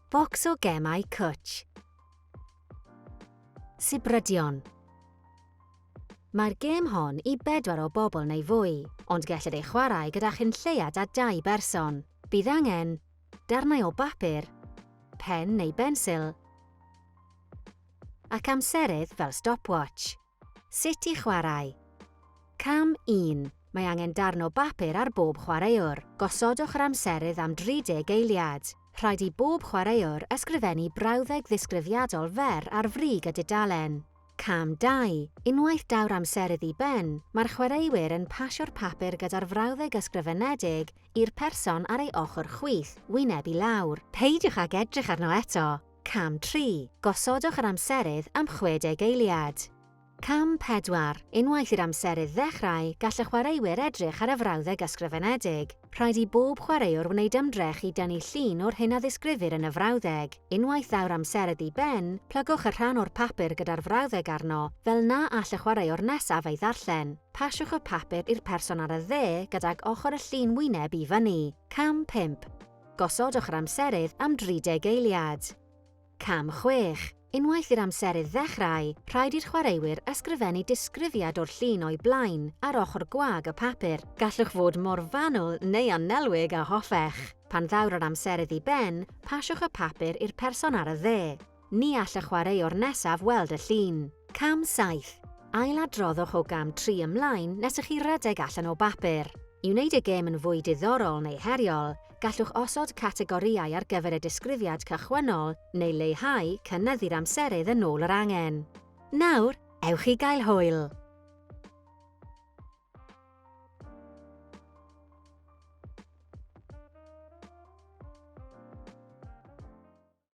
Bocs o gemau cwtsh. Sibrydion. Mae'r gêm hon i bedwar o bobl neu fwy, ond gellid ei chwarae gyda chynlleiad a dau berson. Bydd angen darnau o bapur, pen neu bensil, ac amserydd fel stopwatch. Sut i chwarae. Cam 1, Mae angen darn o bapur ar bob chwaraewr. Gosodwch yr amserydd am 30 eiliad. Rhaid i bob chwaraewr ysgrifennu brawddeg ddisgrifiadol fer ar frig y dudalen. Cam 2, Unwaith daw'r amserydd i ben, mae'r chwaraewyr yn pasio'r papur gyda'r frawddeg ysgrifenedig i'r person ar ei ochr chwith, wyneb i lawr. Peidiwch ag edrych arno eto! Cam 3, Gosodwch yr amserydd am 60 eiliad. Cam 4, Unwaith i'r amserydd ddechrau, gall y chwaraewyr edrych ar y frawddeg ysgrifenedig. Rhaid i bob chwaraewr wneud ymdrech i dynnu llun o'r hyn a ddisgrifir yn y frawddeg. Unwaith ddaw'r amserydd i ben, plygwch y rhan o'r papur gyda'r frawddeg arno, fel na all y chwaraewr nesaf ei ddarllen. Pasiwch y papur i'r person ar y dde gydag ochr y llun wyneb i fyny. Cam 5, Gosodwch yr amserydd am 30 eiliad. Cam 6. Unwaith i'r amserydd ddechrau, rhaid i'r chwaraewyr ysgrifennu disgrifiad o'r llun o'i blaen ar ochr gwag y papur. Gallwch fod mor fanwl neu annelwig â hoffech. Pan ddaw'r yr amserydd i ben, pasiwch y papur i'r person ar y dde. Ni all y chwaraewr nesaf weld y llun. Cam 7. Ailadroddwch o gam 3 ymlaen nes i chi redeg allan o bapur. I wneud y gêm yn fwy diddorol neu heriol, gallwch osod categorïau ar gyfer y disgrifiad cychwynnol neu leihau cynyddu'r amserydd yn ôl yr angen. Nawr, ewch i gael hwyl!